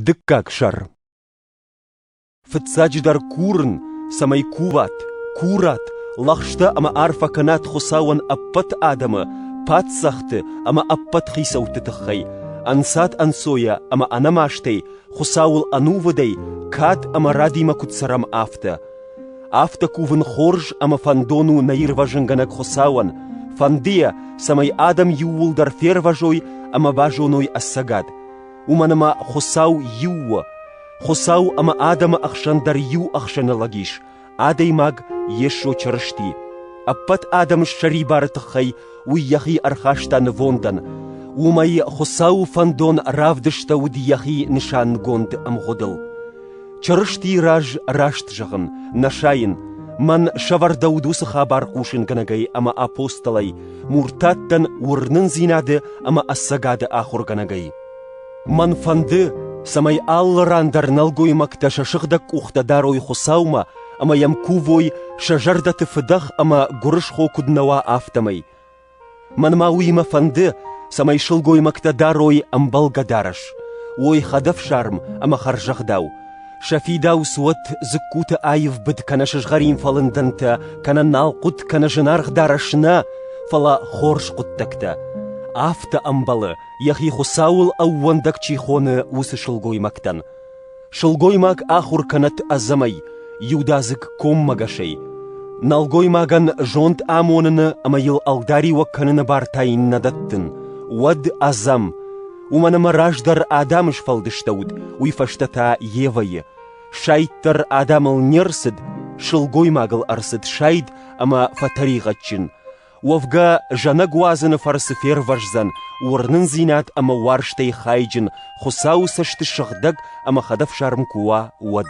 Дыккаг сӕр Фыццаджыдӕр курын, цӕмӕй куват, курат, лӕгъстӕ ӕмӕ арфӕ кӕнат Хуыцауӕн ӕппӕт адӕмы, паддзӕхты ӕмӕ ӕппӕт хицӕутты тыххӕй, ӕнцад-ӕнцойӕ ӕмӕ ӕнӕмастӕй Хуыцауыл ӕнувыдӕй кад ӕмӕ радимӕ куыд цӕрӕм, афтӕ. Афтӕ кувын хорз ӕмӕ фӕндон у нӕ ирвӕзынгӕнӕг Хуыцауӕн, фӕндыйӕ, цӕмӕй адӕм иууылдӕр фервӕзой ӕмӕ базоной ӕцӕгад, уымӕн ӕмӕ Хуыцау иу у. Хуыцау ӕмӕ адӕмы ӕхсӕн дӕр иу ӕхсӕны лӕг ис, адӕймаг Йесо Чырысти. Ӕппӕт адӕм ссӕрибары тыххӕй уый йӕхи ӕрхаста нывондӕн, уымӕй Хуыцауы фӕндон равдыстӕуыд йӕхи нысангонд ӕмгъуыдыл. Чырыстийы раз раст зӕгъын, нӕ сайын, мӕн сӕвӕрдӕуыд уыцы хабар хъусынгӕнӕгӕй ӕмӕ апостолӕй, муртаттӕн уырнындзинады ӕмӕ ӕцӕгады ахуыргӕнӕгӕй. Мӕн фӕнды, цӕмӕй алы ран дӕр нӕлгоймӕгтӕ сӕ сыгъдӕг къухтӕ дарой Хуыцаумӕ ӕмӕ йӕм кувой, сӕ зӕрдӕты фыдӕх ӕмӕ гуырысхо куыд нӕ уа, афтӕмӕй. Мӕнмӕ уыимӕ фӕнды, цӕмӕй сылгоймӕгтӕ дарой ӕмбӕлгӕ дарӕс, уой хӕдӕфсарм ӕмӕ хӕрзӕгъдау, сӕ фидауц уӕт дзыккуты аивбыд кӕнӕ сызгъӕрин фӕлындӕнтӕ, кӕнӕ налхъуыт кӕнӕ зынаргъ дарӕс нӕ, фӕлӕ хорз хъуыддӕгтӕ. Афтӕ ӕмбӕлы, йӕхи Хуыцауыл ӕууӕндӕг чи хоны, уыцы сылгоймӕгтӕн. Сылгоймаг ахуыр кӕнӕд ӕдзӕмӕй, иудадзыг коммӕгӕсӕй. Нӕлгоймагӕн зонд амоныны ӕмӕ йыл ӕлдариуӕг кӕныны бартӕ иннӕ дӕттын, уӕд ӕдзӕм, уымӕн ӕмӕ раздӕр Адамы сфӕлдыстӕуыд, уый фӕстӕ та Евӕйы. Сайддӕр Адамыл не рцыд, сылгоймагыл ӕрцыд сайд ӕмӕ фӕтӕригъӕдджын. Уӕвгӕ, зӕнӕг уадзыны фӕрцы фервӕздзӕн уырнындзинад ӕмӕ уарзтӕй хайджын, Хуыцауы цӕсты сыгъдӕг ӕмӕ хӕдӕфсарм куы уа, уӕд.